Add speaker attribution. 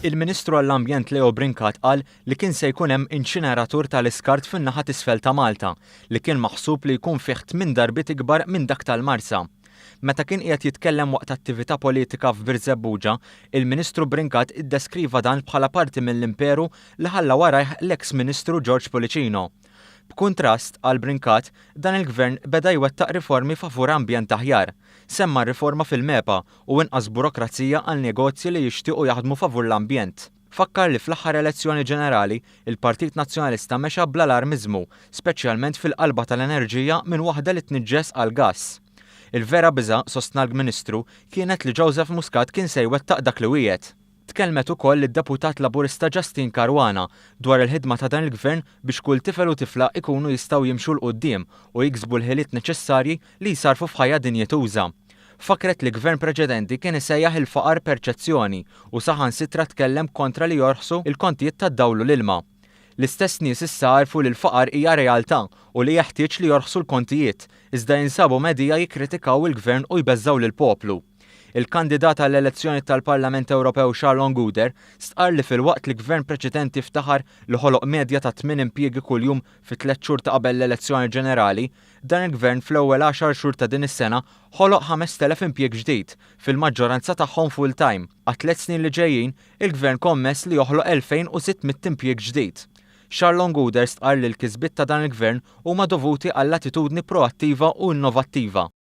Speaker 1: Il-Ministru għall-Ambjent Leo Brincat qal li kien se jkun hemm inċineratur tal-iskart fin-naħa t'isfel ta' Malta, li kien maħsub li jkun fih tmien darbiet ikbar minn dak tal-Marsa. Meta kien qiegħed jitkellem waqt attività politika f'Birżebbuġa, il-Ministru Brincat iddeskriva dan bħala parti mill-imperu li ħalla warajh l-eks Ministru George Pullicino. B'kuntrast, qal Brincat, dan il-Gvern beda jwettaq riformi favur ambjent aħjar. Semma r-riforma fil-MEPA u inqas burokrazija għal negozji li jixtiequ jaħdmu favur l-ambjent. Fakkar li fl-aħħar elezzjoni ġenerali, il-Partit Nazzjonalista mexa bl-alarmiżmu, speċjalment fil-qalba tal-enerġija minn waħda li tniġġes għal gass. Il-vera biża', sostna l-Ministru, kienet li Joseph Muscat kien se jwettaq dak li wiegħed. Tkellmet ukoll id-Deputat Laburista Justyne Caruana dwar il-ħidma ta' dan il-Gvern biex kull tifel u tifla ikunu jistgħu jimxu 'l quddiem u jiksbu l-ħiliet neċessarji li jsarrfu f'ħajja dinjituża. Fakkret li Gvern preċedenti kien isejjaħ il-faqar perċezzjoni u saħansitra tkellem kontra li jorħsu l-kontijiet tad-dawl u l-ilma. L-istess nies issa għarfu li l-faqar hija realtà u li jeħtieġ li jorħsu l-kontijiet, iżda jinsabu medhija jikkritikaw il-Gvern u jbeżżgħu lill-poplu. Il-kandidat għall-elezzjoni tal-Parlament Ewropew Sharon Guder stqarr li filwaqt li Gvern preċedenti ftaħar li ħoloq medja ta' tmien impjiegi kuljum fit-tliet xhur ta' qabel l-elezzjoni ġenerali, dan il-Gvern fl-ewwel għaxar xhur ta' din is-sena ħoloq 5,000 impjieg ġdid, fil-maġġoranza tagħhom full-time. Għat-tliet snin li ġejjin, il-Gvern kommess li joħloq 2,600 impjieg ġdid. Sharon Guder stqarr li l-kisbiet ta' dan il-Gvern huma dovuti għall-attitudni proattiva u innovattiva.